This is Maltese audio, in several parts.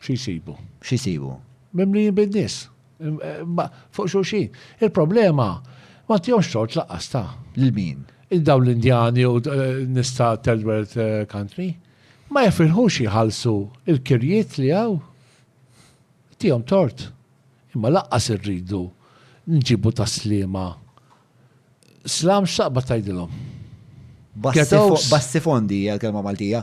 Xi jsibu? Xi jsibu? Mimlijin bin-nies. Fuq xulxin. Il-problema ma tihomx tort laqqas ta'. Lil min? Il dawn l-Indjani u nies ta' third world country. Ma jifirħux jħallsu l-kirjiet li hawn. Tihom tort. Imma laqqas irridu nġibu tas-sliema slam x'taqbad tgħidilhom? Bassifondi hija l-kelma Maltija.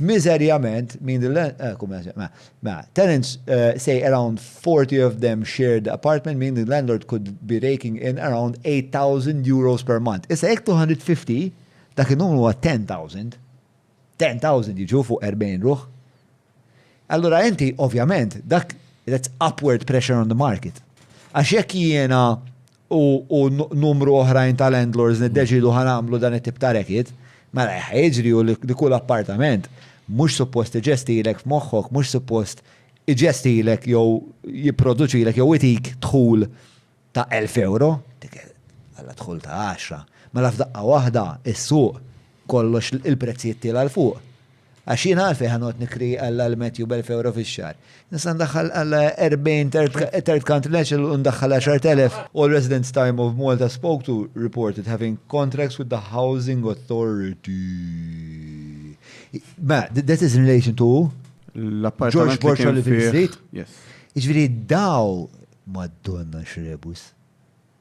Miżerjament, min the land, eh, kum jaġ, mela, mela, tenants eh, say around 40 of them shared the apartment, meaning the landlord could be raking in around 8,000 euros per month. Issa jekk 250, dak il-numru huwa 10,000. 10,000 jiġu fuq 40 ruħ. Allura inti, ovvjament, dak that's upward pressure on the market. Għax jekk jiena u numru oħrajn ta' landlords niddeċiedu ħa nagħmlu dan it-tip ta' racket, mela li ħa jiġri hu li kull appartament mhux suppost iġestilek f'moħħok, mhux suppost iġestilek jew jipproduċilek jew itik dħul ta' elf ewro, itik alla dħul ta' għaxra, mela f'daqqa waħda s-suq kollox il-prezzijiet tiela' 'l fuq. Għax jien għalfejn ħa noqgħod nikri għal għal Matthew b'elf ewro fix-xahar? Nista' ndaħħal għal 40 third country national u ndaħħal 10,000. All residents Time of Malta spoke to reported having contracts with the Housing Authority. Ma, that is in relation to George Borchardt li fil-Street. Jiġifieri daw Madonna x'rebus.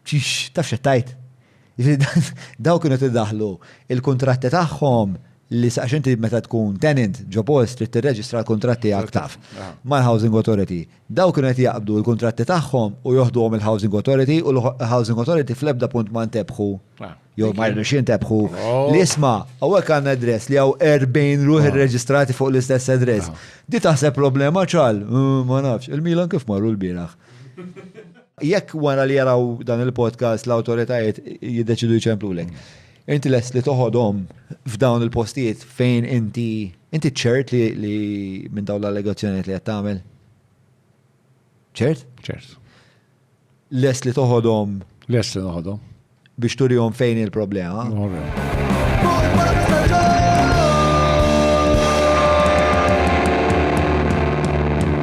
Tix, taf x'qed tgħid? Jiġifieri dawn kienu qed idaħħlu l-kuntratti tagħhom li sa għax inti meta tkun tenant ġo post trid tirreġistra l-kuntratt tiegħek taf mal-Housing Authority. Dawn kienu qed jaqbdu l-kuntratti tagħhom u joħduhom il-Housing Authority u l-Housing Authority fl-ebda punt ma ntebħu jew ma jridux jintebħu li isma' hawnhekk għandna address li hawn 40 ruħ irreġistrati fuq l-istess address. Di taħseb problema ċal? Ma nafx. Il-Milan kif marru l-bieraħ? Jekk wara li jaraw dan il-podcast l-awtoritajiet jiddeċidu jċemplulek, inti lest li toħodhom f'dawn il-postijiet fejn inti inti ċert li, li minn dawn l-allegazzjonijiet li qed tagħmel? ċert? ċert. Lest li toħodhom? Lest li noħodhom. Biex turihom fejn il-problema.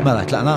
Mela, tlaqna?